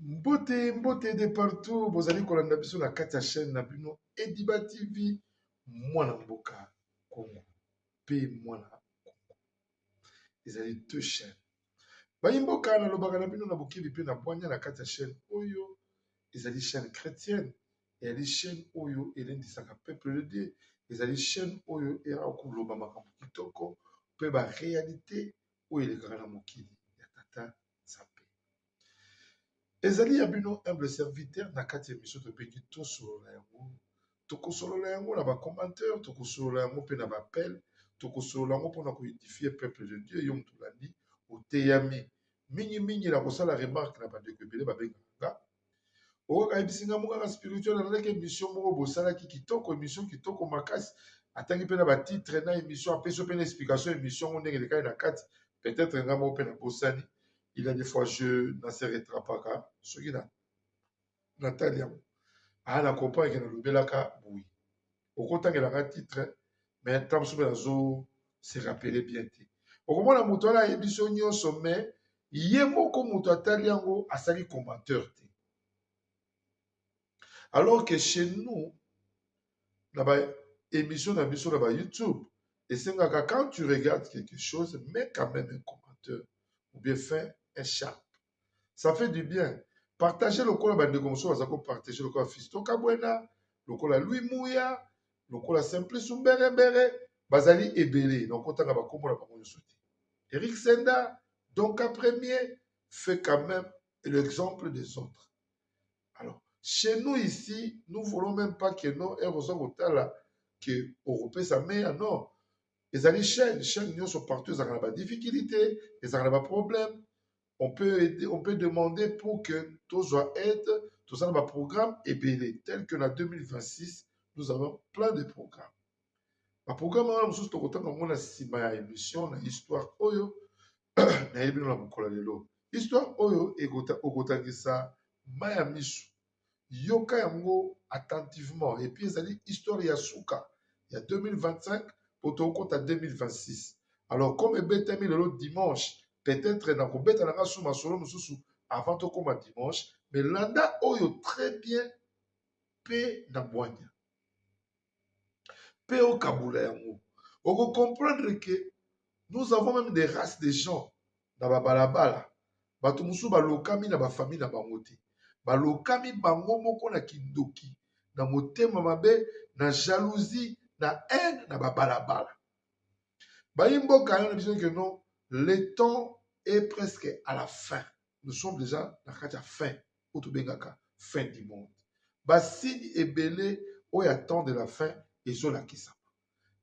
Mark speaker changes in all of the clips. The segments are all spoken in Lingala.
Speaker 1: mbote mbote de partout bozali kolanda biso na kati ya chaîne na bino ediba tv mwana mboka congo mpe mwana congo ezali deux chaîne Bayi mboka na lobaka na bino na bokeli pe na bwania na kati ya chaine oyo ezali chaine chretienne eyali chaine oyo elendisaka peuple de Dieu ezali chaine oyo eyaka koloba makambo kitoko pe ba realite oyo elekaka na mokili ya tata Nzambe. Ezali ya bino humble serviteur na kati ya emission tobengi tosolola yango tokosolola yango na ba commentaire tokosolola yango mpe na ba appel tokosolola yango mpona ko edifie peuple de dieu yo moto olandi oteyami mingimingi na kosala remarque na bandeko ebele babengaka nga oyoka ayebisi nga mokaka spirituel alalaki émission moko bosalaki kitoko émission kitoko makasi atangi mpe na batitre na émission apesi mpe na explication émission yango ndenge elekaki na kati peut-être nga moko mpe na bosani il a des fois je na se retrapaka soki na natali yango aa ah, na comprendre ke nalobelaka boye okotangela nga titre mais ntango mosusu mpe nazo se rappele bien te okomona moto wana ayebi biso nyonso mais ye moko moto atali yango asali commenteur te alors que chez nous na ba émission na biso na ba youtube esengaka quand tu regardes quelque chose mais quand même un commenteur ou bien fin un chat ça fait du bien partage lokola bandeko mosusu baza kopartage lokola fisto kabwena lokola lui muya lokola simplice mberebere bazali ebele na okotanga bakombo na bango nyonso te eric senda donc a premier fait quand même l'exemple des autres alors chez nous ici nous voulons même pas que non ere oza kotala ke okopesa meya non ezali chaîne chaîne nyonso partout ezalaka na ba difficulté ezalaka na ba problème on peut aider, on peut demander pour que tozwa aide toza na ba programme ebele tel que na 2026 nous avons plein de programmes ba programme wana mosusu tokotanga yango na nsima ya émission na histoire oyo nayebi bino na mokolo ya lelo histoire oyo ekota- okotangisa mai ya miso yoka yango attentivement et puis ezali histoire ya suka ya 2025 po tokota 2026 alors comme ebetami lelo dimanche peut-être nakobeta na nga su masolo mosusu avant tokoma dimanche mais landa oyo très bien pe na bwanya pe okabola yango oko comprendre ke nous avons meme des races de gens na babalabala bato mosusu balokami na bafamille na bango te balokami bango moko na kindoki na motema mabe na jalousie na haine na babalabala bayi mboka yana na biso ke non le temps est presque à la fin nous sommes déjà na kati ya fin oyo tobengaka fin du monde basigne ebele oyo ya temps de la fin ezolakisama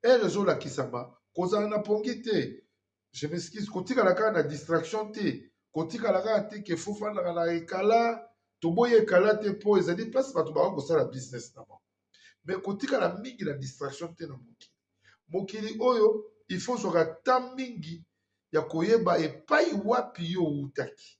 Speaker 1: ere ezolakisama kozala na pongi te je m'excuse kotikala kaka na distraction te kotikala kaka te ke fofandaka na ekala toboyi ekala te mpo ezali place bato bakoki kosala business na bango me kotikala mingi na distraction te na mokili mokili oyo ifo ozwaka ta mingi ya koyeba epai wapi yo outaki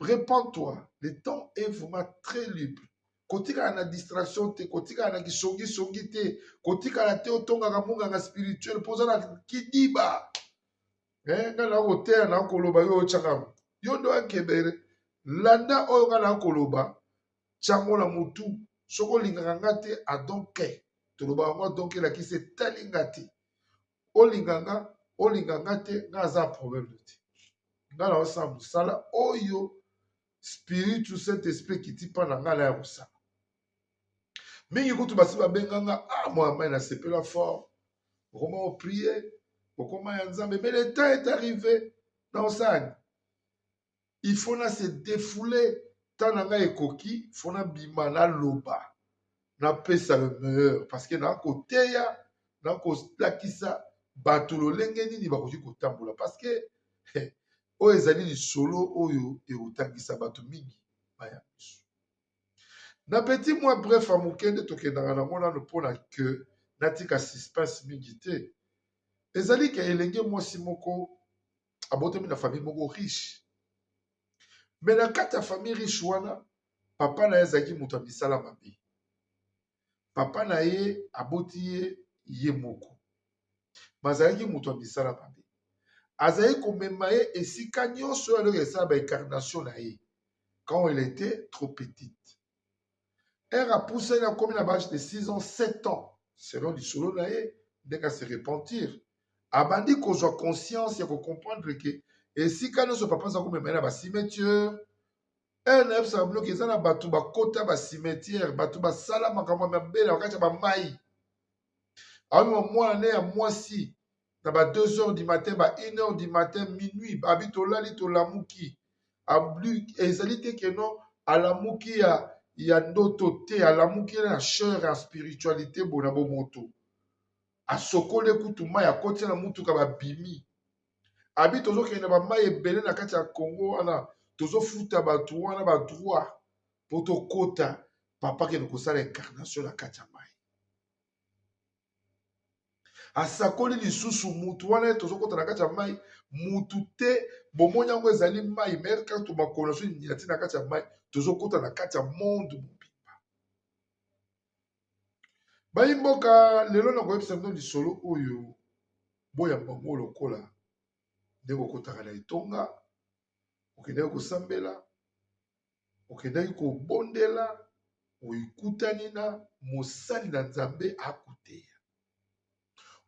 Speaker 1: Repends-toi, le temps est vraiment très libre. kotikala na distraction te kotikala na kisongisongi te kotikala te otongaka monganga spirituel mpo oza na kidiba eh, nga na koteya na koloba yo otyaka yo ndo akebere landa oyo nga na koloba tyango na motu soki olingaka nga te adonke toloba yango adonke elakisi etali nga te olinga nga olinga nga te nga aza problème te nga na osala mosala oyo spiritu saint esprit ekiti mpa na nga na ya kosala mingi kutu basi babenga nga ah moya mai nasepela fort okoma oprie okoma ya nzambe mais le temps est arrivé na osalani il faut na se defouler ntango na ngai ekoki fo nabima naloba napesa le meilleur parce que naa koteya naa kolakisa bato lolenge nini bakoki kotambola parce que oyo ezali lisolo oyo ekotangisa bato mingi baya biso na petit mwa bref ya moke nde tokendaka nango nano mpo na que natika suspense mingi te ezali ke elenge mwasi moko abotami na famille moko riche me na kati ya famille riche wana papa na ye azalaki moto ya misala mabe papa na ye aboti ye ye moko bazalaki moto ya misala mabe azali komema ye esika nyonso oyo aloko esala baincarnation na ye quand elle était trop petite ere apusani akomi na bage de 6 ans 7 ans selon lisolo na ye ndenge ase repentir abandi kozwa conscience ya kocomprendre ke esika nyonso papa aza komema ye na bacimetiere ere nayebisaka bino ke eza na bato bakota bacimetiere bato basala makambo ya mabele na kati ya bamai amema mwana ne ya mwasi na ba 2 heures du matin ba 1 heure du matin minuit abi tolali tolamuki ezali te keno alamuki ya ya ndoto te alamuki na chere ya spiritualité bona bomoto asokoli kutu mai akoti na motuka babimi abi tozokende bamai ebele na kati ya congo wana tozofuta bato wana badroit mpo tokota papa kende kosala incarnation na kati ya mai asakoli lisusu mutu wana tozokota na kati ya mai mutu te bomoni yango ezali mai mayele kaka tomakolo naso nyati na kati ya mai tozokota na kati ya monde mobimba bayi mboka lelo na koyebisa bino lisolo oyo boyamba yango lokola nde kokotaka na etonga okendeki kosambela okendaki kobondela oikutani na mosali na nzambe akuteya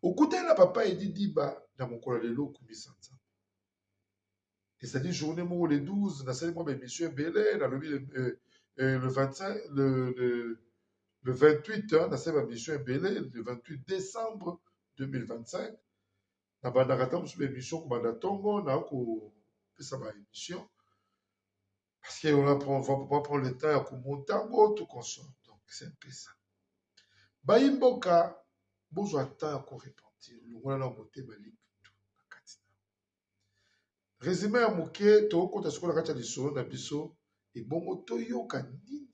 Speaker 1: okutani na papa edi diba na mokolo ya lelo okumisa nzambe ezali journée moko le 12 nasali mwa baémission ebele nalobi le, euh, euh, le 25 le, le, le 28 nasali bamission ebele le 28 décembre 2025 na bandaka ata mosusu ba emission kobanda ntongo na kopesa ba emission parce que on apprend on va pas prendre le temps ya komonta yango tout consort donc c'est un peu ça bayi mboka bozwa temps ya korepentir longola na motema lipitu na kati na resume ya moke tokokota sikoyo na kati ya lisolo na biso ebongo toyoka nini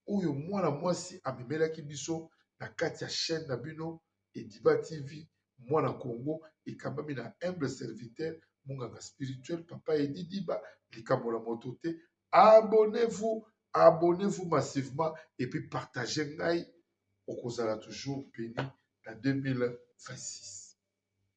Speaker 1: oyo mwana mwasi amemelaki biso na kati ya chaîne na bino Ediba TV mwana Congo ekambami na humble serviteur munganga spirituel papa Edi Diba likambo na moto te abonnez-vous abonnez-vous massivement et puis partagez ngai okozala toujours béni na 2026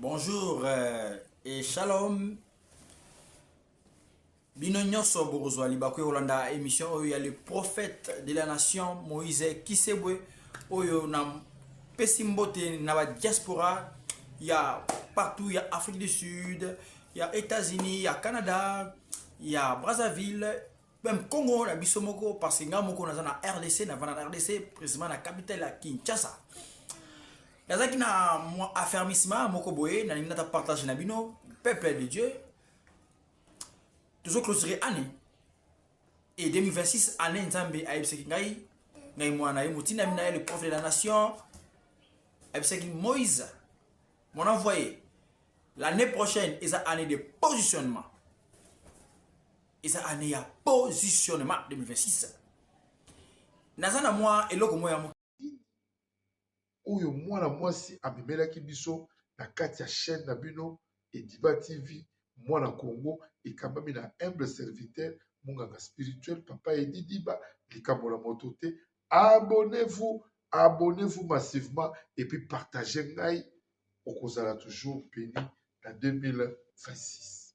Speaker 2: Bonjour euh, et shalom. Bino nyonso bokozwa libaku kolanda émission oyo ya le prophète de la nation Moïse Kisebwe oyo na pesi mbote na ba diaspora ya partout ya Afrique du Sud, ya États-Unis, ya Canada, ya Brazzaville Même Congo na biso moko parce que nga moko naza na RDC na vana na RDC précisément na capitale ya Kinshasa. Nazaki na mwa affermissement moko boye na ningata partage na bino peuple de Dieu. Tozo clôturer année et 2026 année Nzambe ayebisaki ngai ngai mwana ye motina mina ye le prophète de la nation ayebisaki Moïse mon envoyé l'année prochaine eza année de positionnement eza année ya positionnement 2026 naza na mwa eloko moko ya moke
Speaker 1: oyo mwana mwasi amemelaki biso na kati ya chaîne na bino ediba tv mwana congo ekambami na humble serviteur monganga spirituel papa edidiba likambo na moto te abonnez-vous abonnez-vous massivement et puis partagez ngai okozala toujours béni na 2026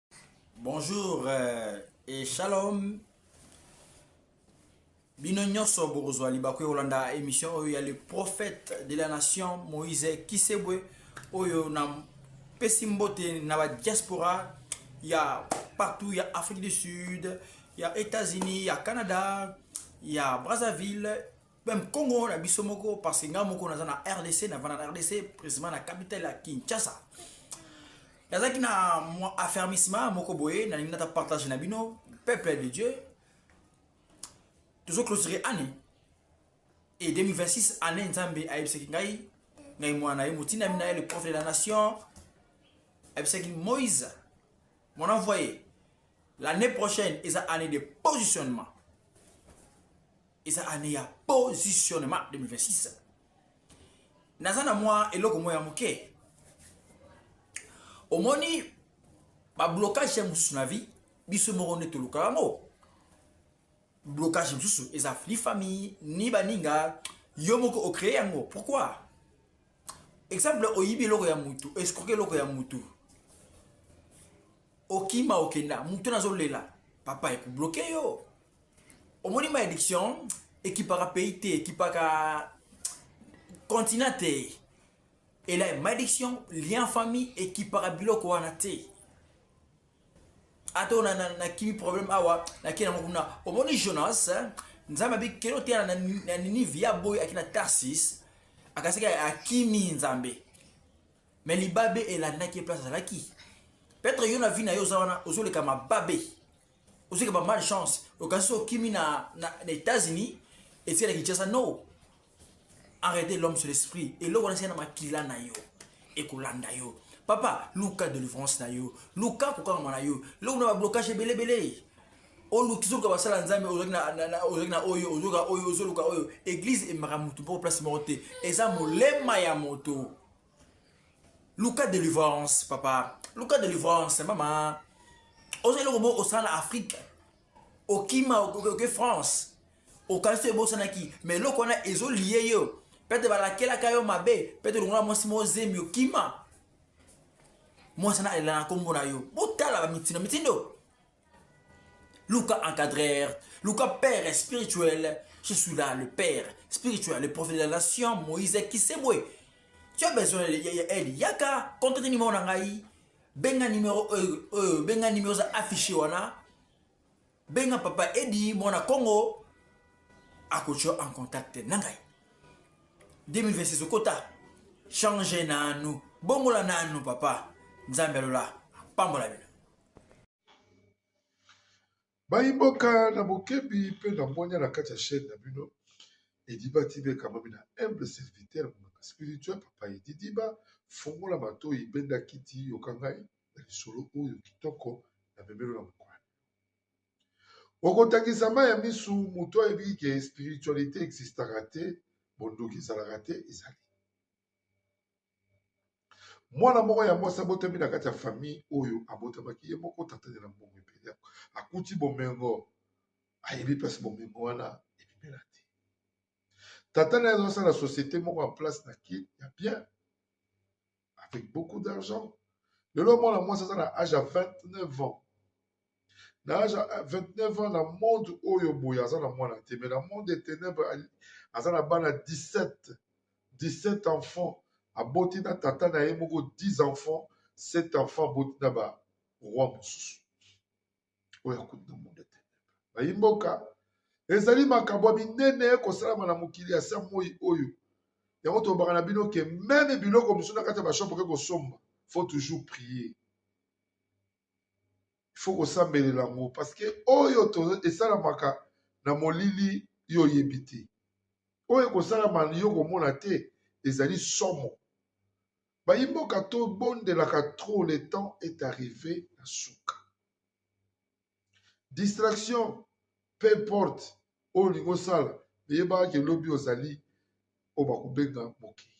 Speaker 2: Bonjour euh, et shalom. Bino nyonso bokozwa libaku kolanda émission oyo ya le prophète de la nation Moïse Kisebwe oyo na pesi mbote na ba diaspora ya partout ya Afrique du Sud, ya États-Unis, ya Canada, ya Brazzaville Même Congo na biso moko parce que nga moko naza na RDC na vana na RDC précisément na capitale ya Kinshasa. Nazaki na mwa affermissement moko boye na ningata partage na bino peuple de Dieu. Tozo clôturer année et 2026 année Nzambe ayebisaki ngai ngai mwana ye motina mina ye le prophète de la nation ayebisaki Moïse mon envoyé l'année prochaine eza année de positionnement eza année ya positionnement 2026 naza na mwa eloko moko ya moke omoni bablocage ya mosusu na vie biso moko nde toluka yango blocage mosusu eza ni famille ni baninga yo moko ocree yango pourquoi exemple oyibi eloko ya mutu escroke eloko ya mutu okima okenda mutu nazolela papa ekobloke yo omoni ma élection ekipaka pays te ekipaka continent te ela malédiction lien famille ekipaka biloko wana te ata ona nakimi problème awa nake nango kuna omoni jonas nzambe abikeli oteya na ninive ya boye akina tarsis akasaki akimi nzambe me libabe elandaki ye place azalaki petre yo na vi na yo oza wana ozoleka mababe ozwaki ba mal chance okanisi okimi na, na, na états-unis etikala kinshasa no arrêtez l'homme sur l'esprit eloko wana esali na makila na yo ekolanda yo papa luka delivrance na yo luka kokangama na yo eloko na bablocage ebelebele oluki zoluka basala nzambe ozalaki na oyo ozoka oyo ozoluka oyo eglize emaka motu mpo place moko te eza molema ya moto luka delivrance papa luka delivrance mama oza eloko bo osala na afrique okima oke france okanisi oyo ebosanaki ma eloko wana ezolie yo pete balakelaka yo mabe pete longola mwasi moko zemi okima mwasi wana alela na nkombo na yo botala bamitindo mitindo Luka encadreur, Luka père spirituel. Je suis là, le père spirituel, le prophète de la nation, Moïse Kisebwe. Tu as besoin d'aide. Yaka, contacte numéro nangai. Benga numéro, euh, euh, benga numéro affiché wana. Benga papa Edi, mon Congo. Akocho en contact nangai. 2026 okota change nanu bongola nanu papa nzambe alola pambola bino
Speaker 1: bayi mboka na bokebi mpe na mbonya na kati ya chaine na bino ediba tv ekamami na humble serviteur monaka spirituel papa edidiba fungola matoyi benda kiti yoka ngai na lisolo oyo kitoko na memelo na mokolo okotangisa mai ya misu moto ayebi ke spiritualité existaka te bondoki ezalaka te ezali mwana moko ya mwasi abotami na kati ya famille oyo abotamaki ye moko tatane na mbongo ebele akuti bomengo ayebi mpasi bomengo wana ebimela te tata na ye azosala société moko ya place na ki ya bien avec beaucoup d'argent lelo mwana mwasi aza na age ya 29 ans na age ya 29 ans na monde oyo boye aza na mwana te mais na monde ya ténèbre aza na bana 17 17 enfants aboti na tata na ye moko 10 enfants 7 enfants aboti na ba roi mosusu oyo akuti na monde ya ténèbre bayi mboka ezali makambo ya minene kosalama na mokili ya sa moi oyo yango tolobaka na bino ke meme biloko mosusu na kati ya bashop oke kosomba faut toujours prier faut kosambelela yango parce que oyo esalamaka na molili yo oyebi te oyo ekosalama yo komona te ezali somo bayimboka tobondelaka trop le temps est arrivé na suka distraction peu importe oyo olingi osala eyebaka ke lobi ozali oyo bakobenga mokili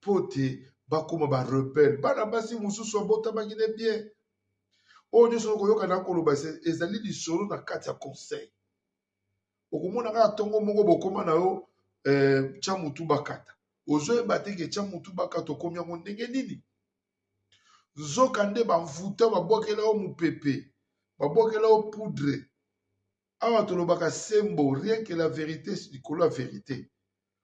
Speaker 1: mpo te bakoma ba rebelle bana basi mosusu abotamaki ne bien oyo nyonso okoyoka na koloba ezali lisolo na kati ya conseil okomona kaka ntongo moko bokoma na yo eh, tya motu bakata ozoyeba te ke tya motu bakata okomi yango ndenge nini nzoka nde bamvuta babwakela yo mopepe babwakela yo poudre awa tolobaka sembo rien que la verite likolo ya verite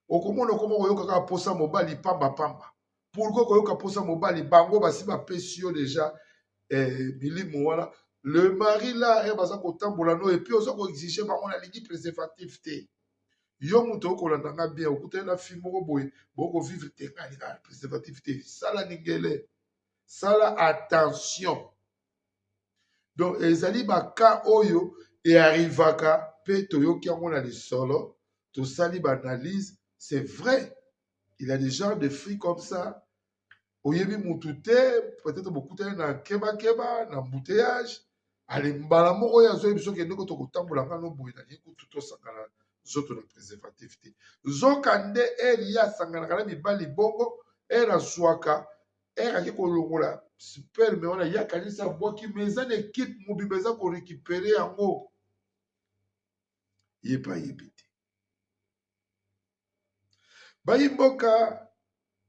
Speaker 1: okomona okoma koyoka kaka mposa mobali pamba pamba pourkoi koyoka mposa mobali bango basi bapesi yo deja eh, milimo wana le mari la eh, baza kotambola no epuis oza koexige bango nalingi préservatif te yo moto okolanda nga bien okutani na fille moko boye bokovivre te nga alinga préservatif te sala ningele sala attention donc ezali baka oyo earrivaka mpe toyoki yango na lisolo tosali baanalyse c'est vrai il y a des genres de fruits comme ça oyebi mutu te peut-être bokutani na kebakeba na embouteillage ale mbala moko oyo azoyebi soki endeko tokotambola ngano boye nalingi kutu tosangana nzoto na préservatif te nzoka nde eri ye asanganaka na mibali bongo ere azwaka ere ake kolongola sperme wana ye akanisi abwaki ma eza na ekipe mobimba eza korekipere yango ye mpe ayebi te bayi mboka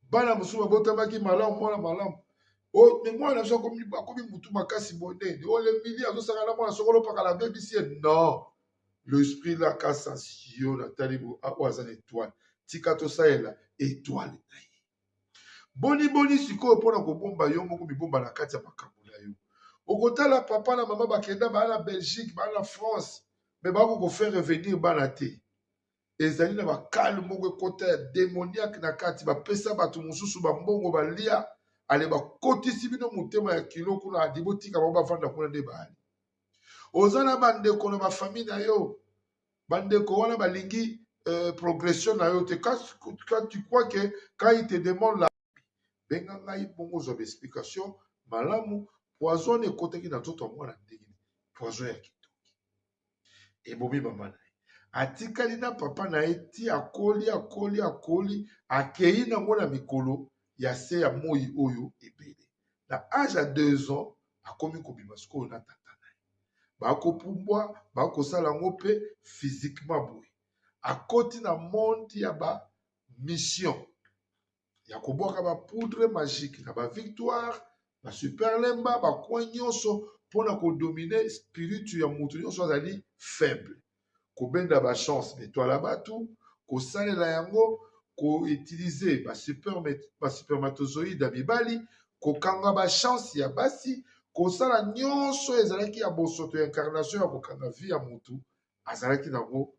Speaker 1: bana mosusu babotamaki malamu mwana malamu me mwana na biso akomi motu makasi bonene olemili azosaka na mwana soko olopaka na bebisi ye non l'esprit la kasa yo natali oyo aza na etoile tika tosalela etoile na ye Boni boni sikoyo mpo na kobomba yo moko mibomba na kati ya makambo na yo. Okotala papa na mama bakenda baa na Belgique, baa na France, me bako kofaire revenir bana te. Ezali na bakale moko ekota ya demoniaque na kati, bapesa bato mosusu bambongo balia, ale bakotisi bino motema ya kilo kuna, adi botika bango bavanda kuna nde baali. Oza na bandeko na bafamille na yo bandeko wana balingi euh, progression na yo te quand tu crois que quand il te demande la benga ngai bongo ozwa baexplication malamu poison wana ekotaki na nzoto ya mwana ndenge poison ya kitoki ebomi mama na ye atikali na papa na ye ti akoli akoli akoli akei nango na mikolo ya se ya moi oyo ebele na age ya deux ans akomi kobima sikoyo na tata na ye bakopumbwa bakosala yango mpe physiquement boye akoti na monde ya ba mission ya kobwaka ba poudre magique na ba victoire ba super lemba bacoin nyonso mpo na kodomine spiritu ya moto nyonso azali faible kobenda ba chance betoile ya batu kosalela yango koutilize basupermatozoïde ya mibali kokanga bachance ya basi kosala nyonso ezalaki ya bosoto ya incarnation ya kokanga vie ya motu azalaki nango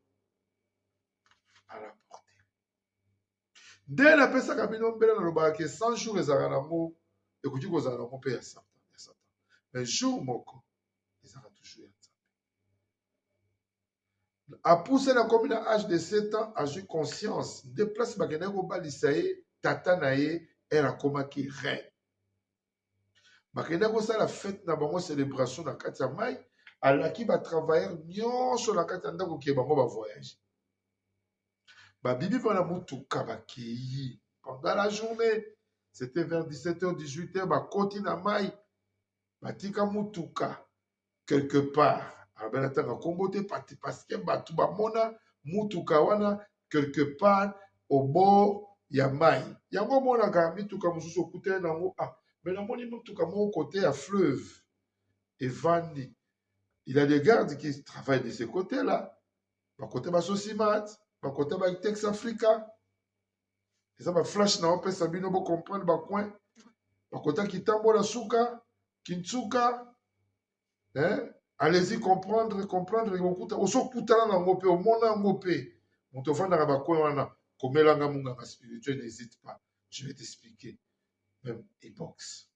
Speaker 1: alaporte nde napesaka bino mbele nalobaka ke 100 jour ezalaka nango ekoki kozala nango mpe ya satan ya satan mais jour moko ezalaka toujours ya nzambe apuse na komi na age de 7 ans azwi conscience nde place bakendaki kobalisa ye tata na ye ere akomaki reine bakendaki kosala fete na bango celebration na kati ya mai alaki batravailleur nyonso na kati ya ndako kee bango bavoyage babibi mpona motuka bakeyi pendant la journée c'était vers 17h 18h bakoti na mai batika motuka quelque part abela taka kombo te pati parce que bato bamona mutuka wana quelque part au bord ya mai yango omonaka mituka mosusu okutani na yango ah me namoni motuka moko kote ya fleuve evandi il a des gardes qui travaillent de ce côté là bakote basosimate bakote batex africa eza ba flash na opesa bino bo comprendre ba coin bakota kitambo na suka kinsuka eh? allez-y comprendre comprendre kokuta osokutana na yango mpe omona yango mpe moto ofandaka bacoin wana komelanga monganga spirituel n'hésite pas je vais t'expliquer même epoxe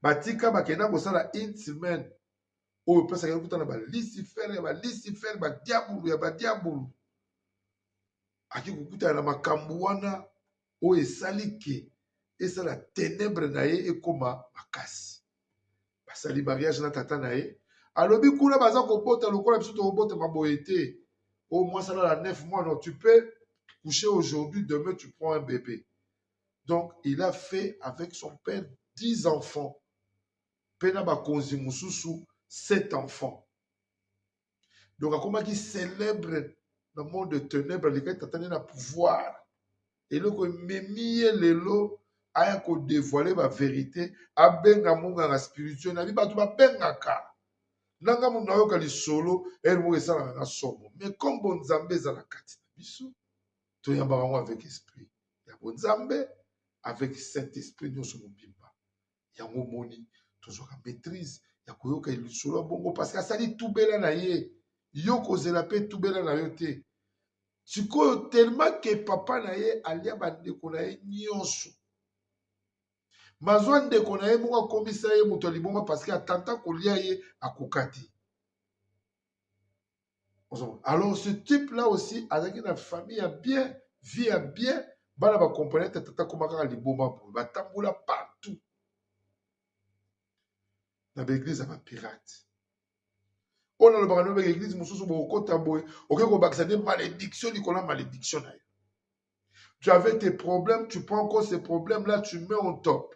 Speaker 1: batika bakenda kosala une semaine oyo opesaka okuta na balisifere ya balisifere badiabulu ya badiabulu ake kokutana na makambo wana oyo esali ke esala tenebre na ye ekoma makasi basali mariage na tata na ye alobi kuna baza kobota lokola biso tokobota maboye te oyo oh, mwasi alala 9 mois non tu peux coucher aujourd'hui demain tu prends un bébé donc il a fait avec son père 10 enfants mpe na bakonzi mosusu 7 enfants donc akomaki célèbre na monde de ténèbre alekaki tata ne na pouvoir eloko ememi ye lelo aya kodevoile baverité abenga monganga spirituel na bi bato babengaka nanga moto nayoka lisolo ere moko esalaka na somo mais nkombo nzambe eza na kati na biso toyambaka yango avec esprit ya bonzambe avec saint esprit nyonso mobimba yango omoni tozwaka maîtrise ya koyoka lisolo ya bongo parce que asali tubela na ye yo kozela mpe tubela na yo te sikoyo telema ke papa na ye alia bandeko na ye nyonso mazwa ndeko na ye moko akomisa ye moto ya liboma parce que atanta kolia ye akoka te alors ce type là aussi azalaki na famille ya bien vie ya bien bana bakomprene te tata akoma kaka liboma boye batambola partout na baeglize ya bapirate oyo nalobaka nobeka eglize mosusu bokokota boye okoki kobakisa nde malédiction likolo ya malédiction na yo Tu avais tes problèmes, tu prends encore ces problèmes-là, tu mets en top.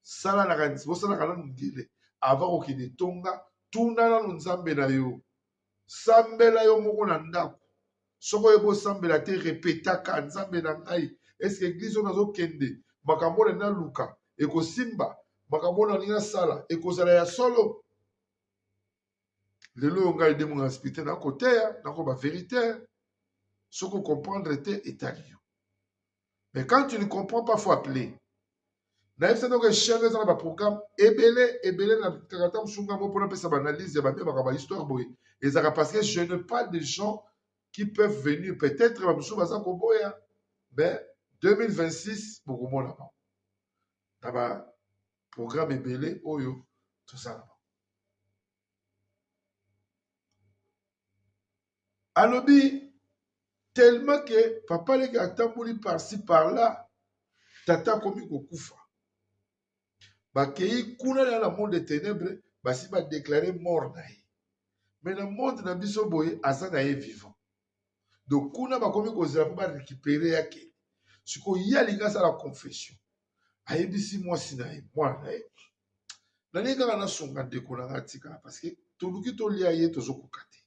Speaker 1: Sala na kanisi, bosala kana mundele. Avant okende tonga, tuna na nzambe na yo. Sambela yo moko na ndako. Soko oyebi osambela te, repetaka nzambe na ngai. Est-ce que église oyo nazokende, makambo na naluka, ekosimba, makambo na ninga sala, ekozala ya solo. lelo oyo ngai demo na spite na koteya nako ba verite soki okomprendre te etali yo mais quand tu ne comprends pas faut appeler nayebisa ndoko echelle eza na baprogramme ebele ebele na kakata mosunga mo mpona apesa baanalyse ya babia makambo ya histoire boye ezalaka parce que je ne pas des gens qui peuvent venir peut-être bamosusu baza koboya mais 2026 bokomona bango na baprogramme ebele oyo tozala alobi tellement ke papa leki atamboli parci par là tata akomi kokufa bakei kuna na na monde de ténèbre basi badeklare mort na ye me na monde na biso boye aza na ye vivant donc kuna bakomi kozela mpo barekipere yake sikoyo ye alingi asala confession ayebisi mwasi na ye mwana na ye nalingi kaka nasunga ndeko na ngai atikala parceke toluki tolia ye tozokoka te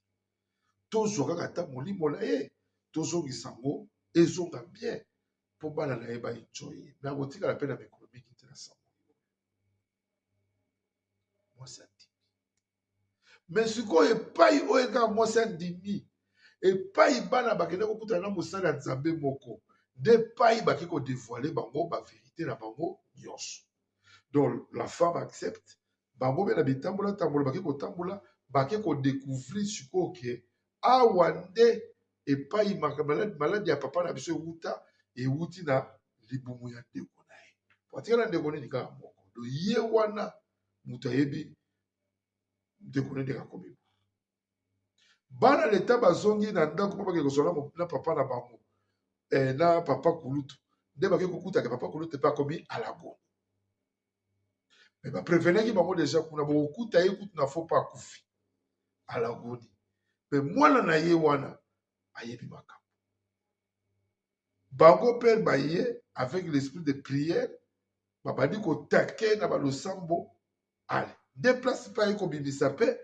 Speaker 1: tozwa kaka ata molimo na ye tozongisa yango ezonga bien mpo bana na ye baenjoy ye me akotikala mpe na mikolo mingi te na sango mwasi me sikoyo epai oyo ekaka mwasi andimi epai bana bakende kokutana na mosali ya nzambe moko nde epai bake kodevoile bango baverite na bango nyonso donc la femme accepte bango mpe na bitambolatambola bake kotambola bake kodecouvrir sikoyo ke awa nde epai maladi ya papa na biso ewuta ewuti na libumu ya ndeko na ye po atikala ndeko nini kaka moko do ye wana moto ayebi ndeko nini akobima bana leta bazongi na ndako mpo bakei kozwa na papa na bango eh, na papa kulutu nde bakei kokutaka papa kulutu mpe akomi alago me baprevenaki bango deja kuna bokokuta ye kutu na fo mpo akufi alagoni mpe mwana na ye wana ayebi makambo bango mpe baye avec l'esprit de prière babandi kotake na balosambo ale deplace mpe aye kobimisa mpe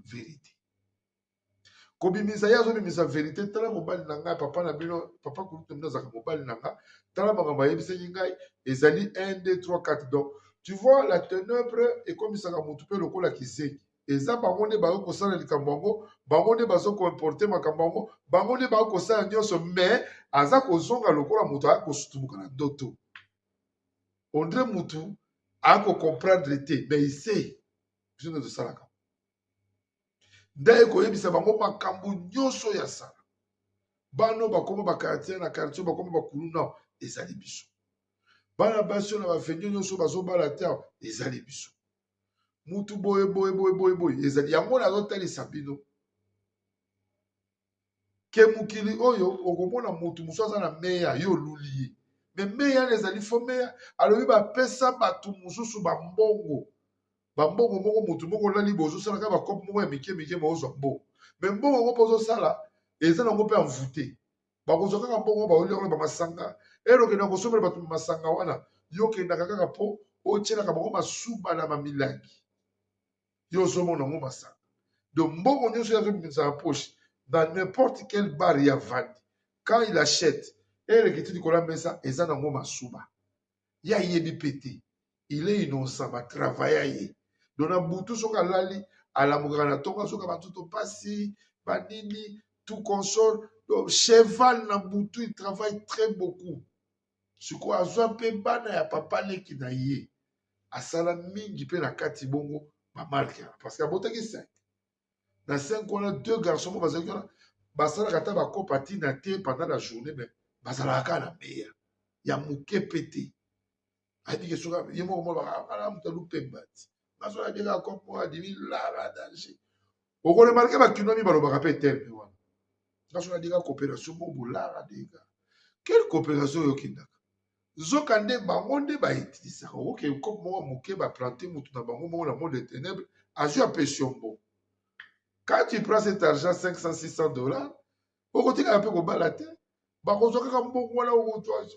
Speaker 1: verite kobimisa ye azobimisa verite tala mobali na ngai papa na bino papa kulutu bino azalaka mobali na ngai tala makambo ayebisaki ngai ezali 1 2 3 4 donc tu vois la tenebre ekomisaka motu mpe lokola kizengi eza bango nde bakoki kosala likambo yango bango nde bazo koimporte makambo yango bango nde bakoki kosala nyonso mais aza kozonga lokola moto aya kosutumuka na ndoto on dirait mutu ako comprendre te mais il sait biso nde tosalaka nde ekoyebisa bango makambo nyonso ya sala bano bakoma bakartier na kartier bakoma bakulu nao ezali biso bana basi oyo na bafendio nyonso bazobala te awa ezali biso mutu boye boye boye boye boye ezali yango nazotalisa bino ke mokili oyo okomona motu mosusu aza na meya yo oluli ye me meya na ezali fo meya alobi bapesa bato mosusu bambongo bambongo moko motu moko olali bo ozosala kaka bakope moko ya mike mike baozwa mbongo me mbongo yango mpe ozosala eza nango mpe envoute bakozwa kaka mbongo baolia kuna bamasanga elo okenda kosombela bato masanga wana yo okendaka kaka mpo otyelaka bango masuba na bamilangi yo ozomona yango masanga donc mbongo nyonso ye azobimisa na poche na n'importe quel bar ya vandi quand il achète elekiti likolo ya mesa eza nango masuba ye ayebi mpe te il est innocent batravaya ye donc na butu soki alali alamukaka na tongo azoka batuto mpasi banini tout console donc cheval na butu il travaille très beaucoup sikoyo azwa mpe bana ya papa leki na ye asala mingi mpe na kati bongo bamarke wana parce que abotaki 5 na 5 wana deux garçon moko bazalaki wana basalaka ata bakopa ntina te pendant la journée mais bazalaka kaka na meya ya moke mpe te ayebi ke soki ye moko mwana bakala moto alupembati nazo ya dega comme moi dimi lara danger oko remarquer ba kinomi balobaka pe terme wana nazo ya dega coopération bobo lara dega quelle coopération yo kindaka nzoka nde bango nde ba utilisaka okoke comme moko moke ba planter mutu na bango moko na monde de ténèbres azwi apesi yo mbongo quand tu prends cet argent 500 600 dollars okotikala mpe kobala te bakozwa kaka mbongo wana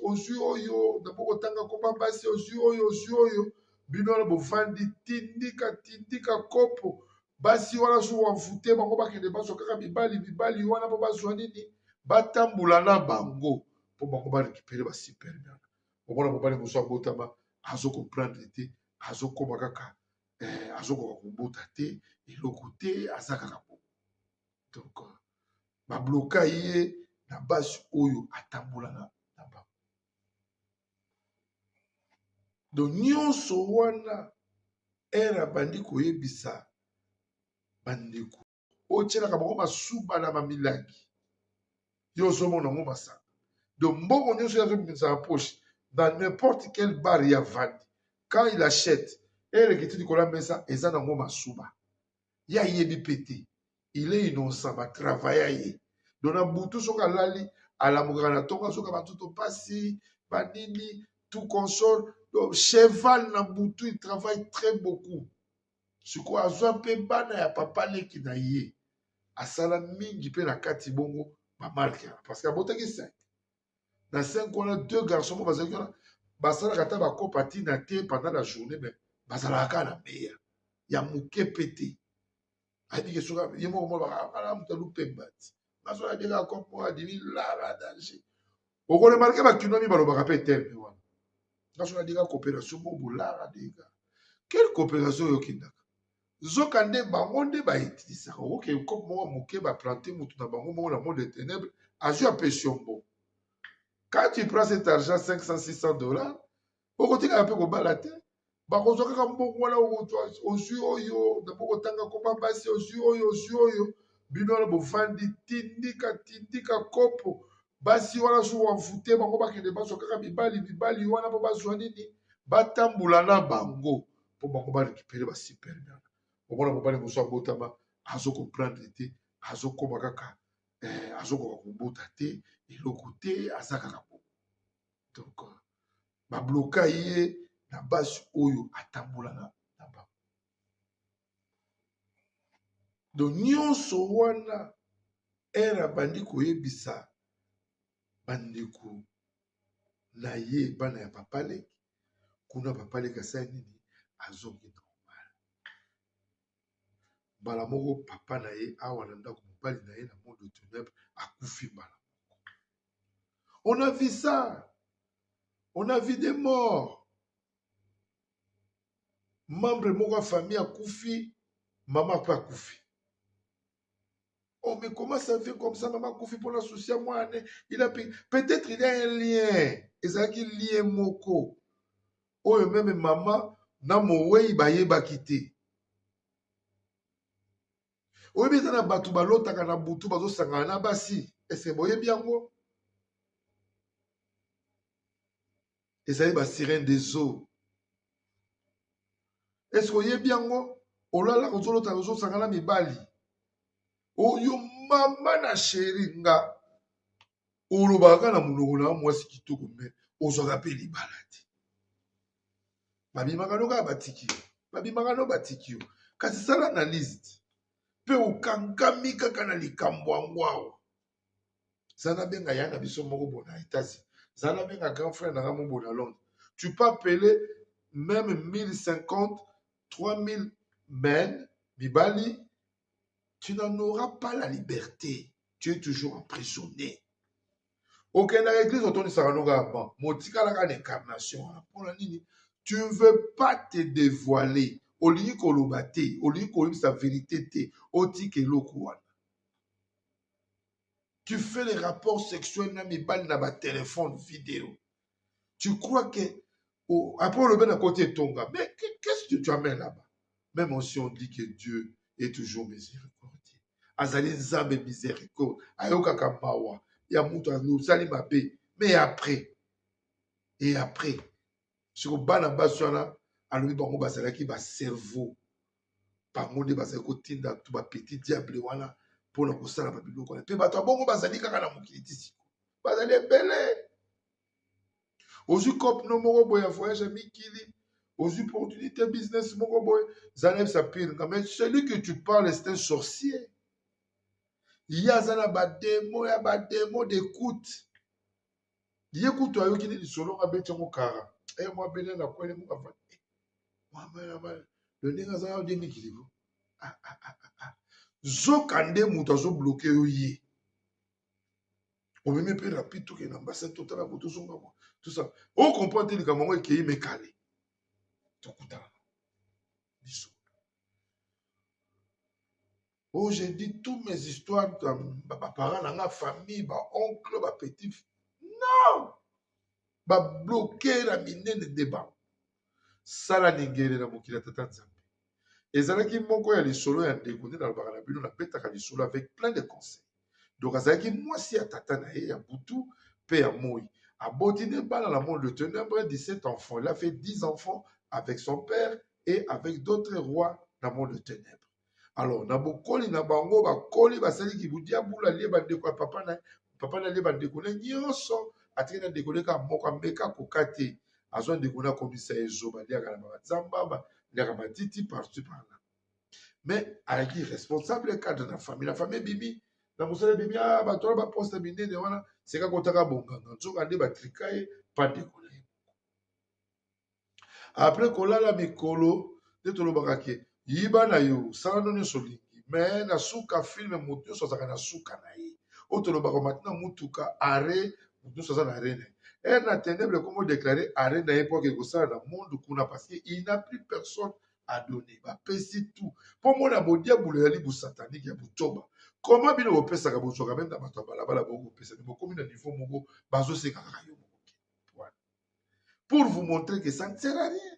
Speaker 1: ozwi oyo napo kotanga koma basi ozwi oyo ozwi oyo bino wana bofandi tindika tindika kopo basi wana so wamfute bango bakende bazwa kaka mibali mibali wana mpo bazwa nini batambola na bango mpo bango barekipere basiperme wana omona mobali mosu abotama azo comprendre te azokoma kaka eh, azokoka kobota te eloko te aza kaka bongo donc euh, babloka ye na basi oyo atambolaka na bango do nyonso wana ere abandi koyebisa bandeko oyo tyelaka bango basuba na bamilangi yo ozomona yango masanga do mbongo nyonso ye azobimisa na poche na n'importe quel bar ya vandi quand il achète ere ekiti likolo ya mesa eza nango masuba ye ayebi mpe te il est innocent batravaya ye don na butu soki alali alamukaka na tonga soki batuto mpasi banini tout console donc cheval na butu il travaille très beaucoup sikoyo azwa mpe bana ya papa leki na ye asala mingi mpe na kati bongo bamarke parce que abotaki 5 na 5 wana deux garçon moko bazalaki wana basalaka ata bakopa ntina te pendant la journée mais bazalaka kaka na meya ya moke mpe te ayebike soki ye moko mobakala moto alupembati nazwaka bie kaka kopo adimi lala danger okoremarke bakinwami balobaka mpe terme wana naso nadika coopération bobu lala dega quelle coopération oyokindaka nzoka nde bango nde ba utilisaka oke kope moko moke ba plante motu na bango moko na monde de ténèbre azwi ya pesiombo quand tu prends cet argent 500 600 dollars okotikaka mpe kobala te bakozwa kaka mbongo wana ozwi oyo napo kotanga koba basi ozwi oyo ozwi oyo bino wana bovandi tindika tindika kopo basi wana so wavute bango bakende bazwa kaka mibali mibali wana mpo bazwa nini batambola na bango mpo bango ba récupere ba superbe wana omona mobali mosu abotama azo comprendre te azokoma kaka eh, azokoka kobota te eloko te aza kaka bongo donc euh, babloka ye na basi oyo atambolaka na bango donc nyonso wana ere abandi koyebisa bandeko na ye bana ya papa leki kuna papa leki asali nini azongi normal mbala moko papa na ye awa na ndako mobali na ye na monde tenèbre akufi mbala moko on a vu ça on a vu des morts membre moko ya famille akufi mama mpe akufi On me commence à vivre comme ça, maman Koufi pour la souci à moi. Il a Peut-être il y a un lien. Et ça qui lien moko. Oh, même maman, na mowei bayebaki te oyebi eza na bato balotaka na butu bazosangana na basi ese boyebi yango ezali ba sirene des eaux est ce que oyebi yango olalaka ozolota ozosanga na mibali oyo mama na sheri nga olobaka na monoko na mwasi kitoko me ozwaka mpe libala te babimaka no kaka batiki yo babimaka no batiki yo kasi sala analyse mpe okankami kaka na likambo yango awa zana benga ya na biso moko bona etasi zana benga grand frère na nga mo bona londres tu peux appeler même 1050 3000 men mibali tu n'en auras pas la liberté tu es toujours emprisonné okendaka église otondisaka noka ya ban motikalaka na incarnation wana mpona nini tu ne veux pas te dévoiler olingi koloba te olingi koyebisa verité te otika eloko wana tu fais les rapports sexuels na mibali na batelefone video tu crois que oh, après olobi na koti etonga mais qu'est-ce que tu amène là-bas même aussi on dit que dieu est toujours miséricordieux azali nzambe miséricorde ayokaka mawa ya moto asali mabe mais après et après siko bana basi wana alobi bango bazalaki bacerveau bango nde bazali kotinda to bapetit diable wana mpona kosala babiloko wana mpe bato ya bongo bazali kaka na mokili ti siko bazali ebele ozwi cope no moko boye ya voyage ya mikili ozwi opportunité business moko boye zala yebisa pire nga mais celui que tu parles c'est un sorcier ye aza na bademo ya bademo d'écoute ye kutu ayoki nini lisolo nga abeti yango kara e eh, mwa bene na kwele muka fa eh, lo ndenge aza na demi kilibo ah, ah, ah, zoka nde moto azobloke yo ye omemi mpe rapide tokende na ambasade totala bo tozonga bo tosa ocomprendre te likambo yango ekei mekale tokutana biso Oh, j'ai dit toutes mes histoires, ba parents na nga, famille, ba oncle, ba petit. Non! Ba bloqué na minene débat. Sala ningere na mokili ya tata Nzambe. Ezalaki moko ya lisolo ya ndeko nde nalobaka na bino napetaka lisolo avec plein de conseils. Donc azalaki mwasi ya tata na ye ya butu mpe ya moi. Aboti nde bana na monde de ténèbres 17 enfants. Il a fait 10 enfants avec son père et avec d'autres rois na monde de ténèbres. alors na bokoli na bango bakoli basali kibudiabulu alie bandeko ya papa na papa na alie bandeko ne nyonso atiki na ndeko ne kaka moko ameka koka te azwa ndeko na akomisa ye zoba aliaka na bazamba aliaka matiti partout par là mais alaki responsable cadre na famille na famille ebimi na mosala ebimi a ah, bato wana baposte minene wana seka kotaka bonganga nzoka nde batrika ye pandeko après kolala mikolo nde tolobaka ke yiba na yo sala no nyonso olingi me na suka filme moto nyonso azalaka na suka na ye oyo tolobaka mati na motuka arre moto nyonso aza na arre na ye ere na tenebre ekomi odeklare arre na ye mpo ake kosala na monde kuna parce que il n'a plus personne à donner bapesi tout mpo mona bodiabulu ezali bosatanike ya botoba koma bino bopesaka bozwaka meme na bato ya balabala boko kopesa bokomi na niveau moko bazosekaka yo pour vous montrer que ça ne sert à rien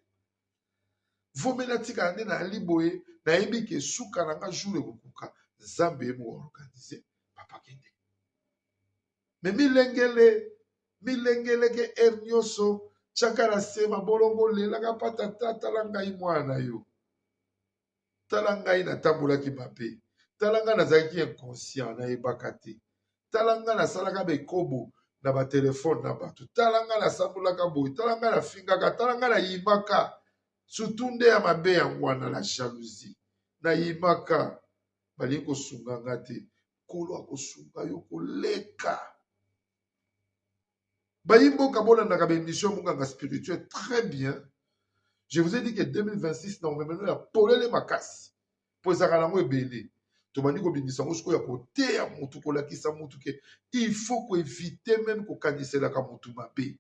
Speaker 1: vomi natikala nde nayali boye nayebi ke suka na nga jour ekokuka nzambe ye moorganize papa kende me milengele milengele ke ere nyonso tyaka na se mabolongo lelaka patata tala ngai mwana na yo tala ngai natambolaki mabe tala ngai nazalaki inconscient nayebaka te tala ngai nasalaka bekobo na batelefone na bato tala ngai nasambolaka boye tala ngai nafingaka tala ngai nayimaka surtout nde ya mabe yango wana la jalousie nayimaka balingi kosunga nga te nkolo akosunga yo koleka bayimboka bolandaka baémission monganga spirituel très bien je vous ai dit que 2026 na omemeno ya polele makasi mpo ezalaka nango ebele tobandi kobimisa yango sikoyo ya koteya motu kolakisa motu ke il faut koevite meme kokaniselaka motu mabe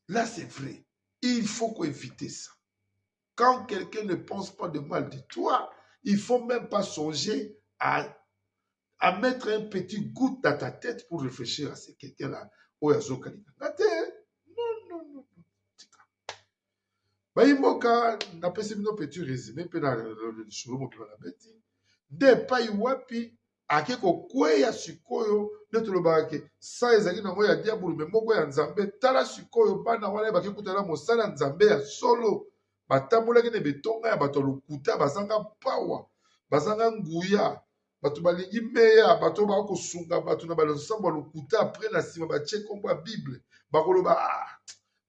Speaker 1: là c'est vrai il faut koevite ça Quand quelqu'un ne pense pas de mal de toi, il faut même pas songer à, à mettre un petit goût dans ta tête pour réfléchir à ce quelqu'un-là. Oyo azokalinga nga te. Non, non, non, non. Tika. Bayimboka, napesi bino petit résumé mpe na lisolo mobima na beti. Nde epai wapi ake kokweya sikoyo nde tolobaka ke sa ezali nango ya diabulu me moko ya nzambe tala sikoyo bana wana bake kutana mosala ya nzambe ya solo batambolaki na betonga ya bato ya lokuta bazanga pawa bazanga nguya bato balingi meya bato baka kosunga bato na balonsambo ya lokuta apres na nsima batie nkombo ya bible bakoloba ah,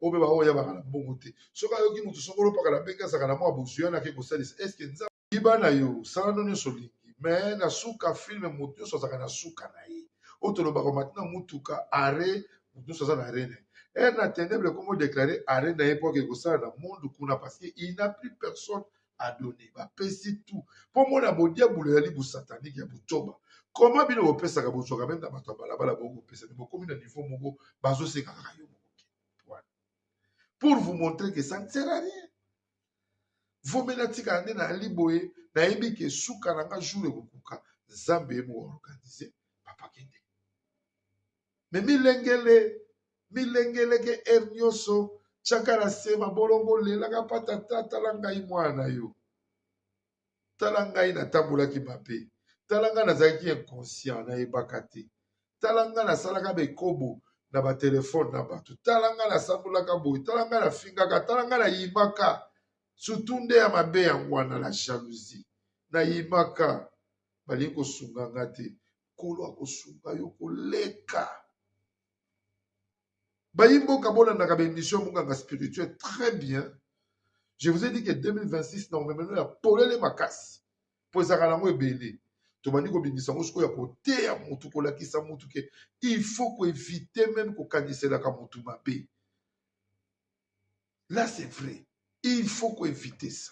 Speaker 1: oyo mpe baoyo yabaka na mbongo te soki ayoki moto soko olopaka na mbenge azalaka na mwa bozwi wana ake kosalisa eske Yiba na yo, sala no nyonso olingi, mais na suka film moto nyonso azalaka na suka na ye. Oyo tolobaka omati na motuka, arret, moto nyonso aza na arret na ye. Heure na tenebre ekomo deklare arret na ye mpo akei kosala na monde kuna parce que il n'a plus personne à donner. Bapesi tout. Mpo mona bodiabulu ezali bosatanike ya botoba. Comment bino bopesaka bozwaka meme na bato ya balabala bokopesa me bokomi na niveau moko bazosenga kaka yo moko. Pour vous montrer que ça ne sert à rien. vombe natikala nde nayali boye nayebi ke suka na nga jour ekokuka nzambe ye moko organise papa kende me milengele milengeleke ere nyonso tiaka na se mabolongo lelaka patata tala ngai mwana na yo tala ngai natambolaki mabe tala ngai nazalaki inconscient nayebaka te tala ngai nasalaka bekobo na batelefone na bato tala ngai nasambolaka boye tala ngai nafingaka tala ngai nayimaka surtout nde ya mabe yango wana la jalousie nayimaka balingi kosunga nga te nkolo akosunga yo koleka bayimboka bolandaka baémission monganga spirituel très bien je vous ai dit que 2026 na omemeno ya polele makasi mpo ezalaka nango ebele tobandi kobimisa yango sikoyo ya koteya motu kolakisa motu ke il faut koevite meme kokaniselaka motu mabe là c'est vrai il faut koevite ça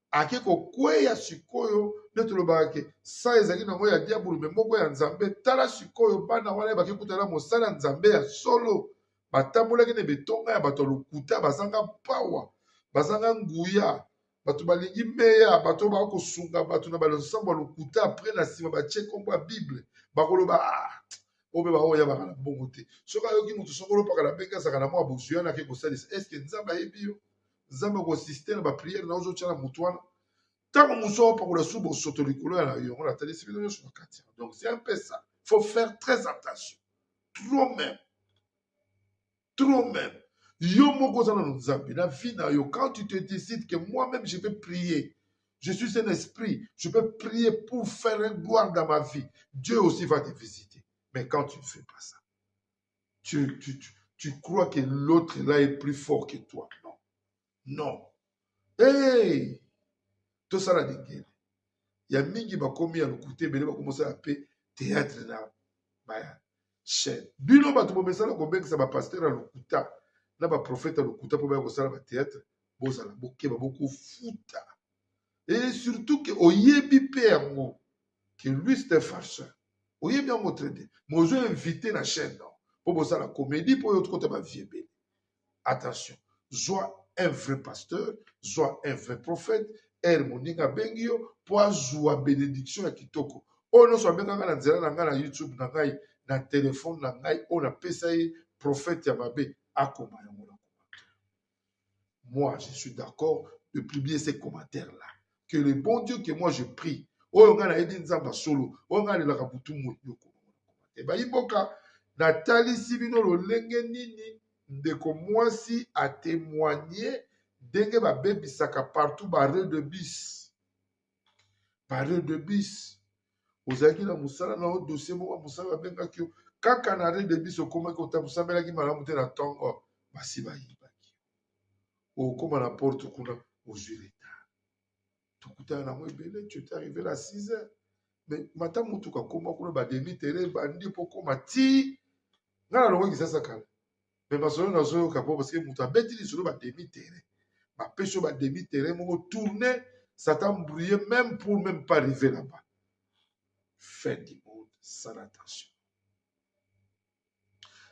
Speaker 1: ake kokweya sikoyo nde tolobaka ke sa ezalaki nango ya diabulu me moko ya nzambe tala sikoyo bana wana bake kutana mosala ya nzambe ya solo batambolaki na betonga ya bato ya lokuta bazanga mpawa bazanga nguya bato balingi meya bato baa kosunga bato na balonsambo ya lokuta apres na nsima batie nkombo ya bible bakoloba ah, oyo mpe baoyo yabaka na mbongo te soki ayoki moto soko olopaka na mbenge azalaka na mwa bozwi wana ake kosalisa eske nzambe ayebi yo nzambe akosiste na bapriere na ozo tya na motu wana ntango mosu aopakola su bosoto likolo ya yango natalisi bino nyonso na kati donc c'est un peu ça faut faire très attention trop même trop même yo moko oza nano nzambe na vie na yo quand tu te décides que moi même je vais prier je suis un esprit je peux prier pour faire une gloire dans ma vie dieu aussi va te visiter mais quand tu ne fais pas ça tu, tu, tu, tu crois que l'autre là est plus fort que toi non non hey! tosala lingele ya mingi bakomi ya lokuta ebele bakomosala mpe théâtre na baya chaîne bino bato bomesana kobengisa bapaster ya lokuta na baprofete ya lokuta mpo baya kosala bathéâtre bozala bokeba bokofuta e surtout ke oyebi mpe yango que lui c'est un farceur oyebi yango très bien mais ozo invité na chaîne non mpo bosala comédie mpo oyo tokota bavie ebele attention zwa un vrai pasteur zwa un vrai prophète ere moninga abengi yo mpo azwa benediction ya kitoko oyo nyonso abengaka na nzela na ngai na youtube na ngai na telefone na ngai oyo napesa ye prophète ya mabe akoma yango na Moi, je suis d'accord de publier ces commentaires-là. Que le bon Dieu que moi je prie, oyo nga nayebi nzambe solo oyo nga alelaka butu moi ebayi mboka natalisi bino lolenge nini ndeko mwasi atemoigne ndenge babebisaka partout barre de bis pariode de bis ozalaki na mosala na yo dossier moko ya mosala babengaki yo kaka na arret de bis okomaki otamosamelaki malamu te na ntongo basi bayibaki okoma na porte kuna ozwi retard tokutana nango ebele tu ete arrivé na 6 heures mais mata motuka koma kuna bademi tere bandi mpo koma ti ngai nalongaki sasa kala me masolo nazoyoka po parce que moto abeti lisolo ba demi terrain bapesi yo ba demi terrain moko tourne ça t'embrouille même pour même pas arriver là-bas fin du monde sans attention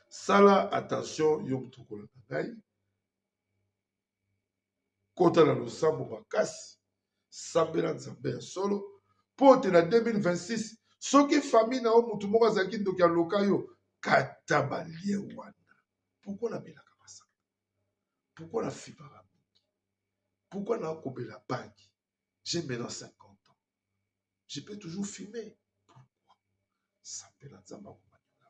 Speaker 1: sala attention yo moto okolanda ngai kota na losambo makasi sambela nzambe ya solo mpo te na 2026 soki famille na yo motu moko azalaki ndoki aloka yo kata balie wana pourkui nabelaka masanga pourkui nafibaka mingi pourkui nakobela banki je maintenant 50 ans je peux toujours filmer pourkui sambela nzambe akomaniola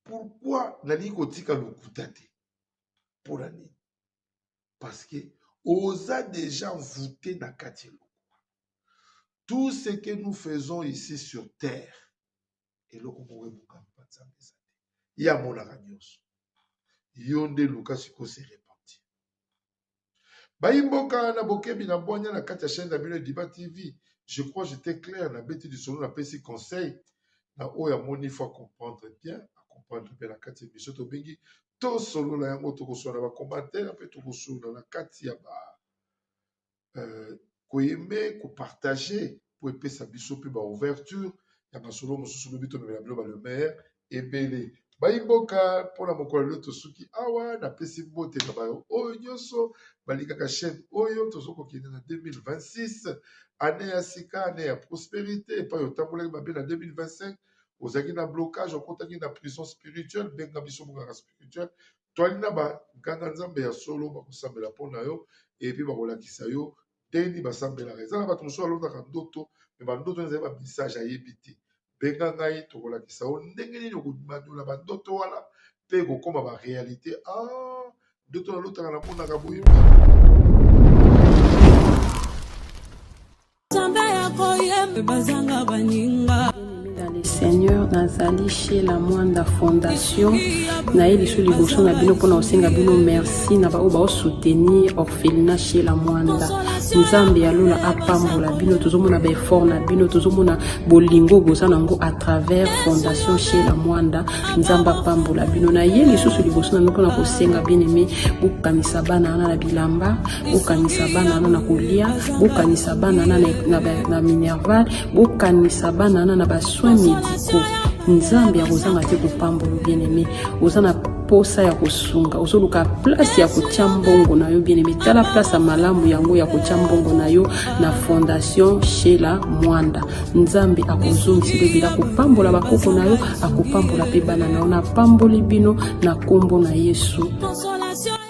Speaker 1: pourkui nalingi kotika lokuta te mpo na nini parce que oza déjà envoûté na kati ya eloko tout ce que nous faisons ici sur terre eloko moko ebukami mpa nzambe eza te ye amonaka nyonso yo nde luka sikoyo se repentir bayi mboka na bokebi na bwanya na kati ya chaîne na bino ediba tv je crois j'étais clair na beti lisolo na pesi conseil na oyo amoni faut comprendre bien comprendre mpe na kati ya biso tobengi tosolola yango tokosolola na bacommentaire mpe tokosolola na kati ya ba euh, koyeme kopartage mpo epesa biso mpe baouverture ya masolo mosusu lobi tomemela bino balemer ebele baimboka mpo na mokolo lelo tosuki awa napesi mbote na bayo oyo nyonso balingaka chaîne oyo tozo kokende na 2026 ane ya sika ane ya prosperité epai otambolaki mabe na 2025 ozalaki na blocage okotaki na prison spirituelle benga biso monganga spirituel toali na banganga nzambe ya solo bakosambela mpo na yo epi bakolakisa yo ndenge nini basambelaka eza na bato mosusu alotaka ndoto me bandoto wana ezali bamessage ayebi te benga ngai tokolakisa yo ndenge nini okomanyola bandoto wana mpe ekokoma barealité a ah, ndoto nalotaka namonaka boye bazanga
Speaker 3: baninga dans le seigneur nazali chez la mwanda fondation naye lisu liboso na bino mpona kosenga bino merci na baoyo baosoutenir orphelina chez la mwanda nzambe ya lola apambola bino tozomona baeffort na bino tozomona bolingo boza na yango à travers fondation chez la mwanda nzambe apambola bino na ye lisusu liboso na bino mpona kosenga bien aime bokanisa bana wana na bilamba bokanisa bana wana na kolia bokanisa bana wana na minerval bokanisa bana wana na basoin medicaux nzambe akozanga te kopambolo bien aime oza na posa ya kosunga ozoluka place ya kotya mbongo na yo bien aime tala place ya malamu yango ya kotya mbongo na yo na fondation shela mwanda nzambe akozongisa elobela akopambola bakoko na yo akopambola mpe bana na yo napamboli bino na nkombo na yesu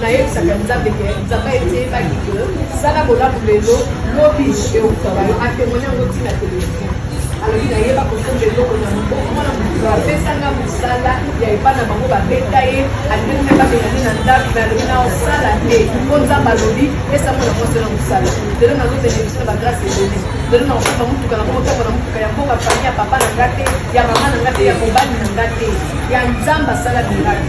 Speaker 4: nayebisaka nzambe ke nzambe eteyebaki ke sala bolamu lelo lobi euta bayo atemoni yango ntina telefone alobi nayeba kosomba eloko na mokokwana moto apesanga mosala ya epa na bango babeta ye alingi me babengani na ndako me alobi na osala te mpo nzambe alobi pesa mwana mwasi na mosala lelo nazozela biso na bagrase ebele lelo nakosomba motuka na moko ntango na motuka ya mboka fami ya papa na nga te ya mama na nga te ya mobali na nga te ya nzambe asala miraki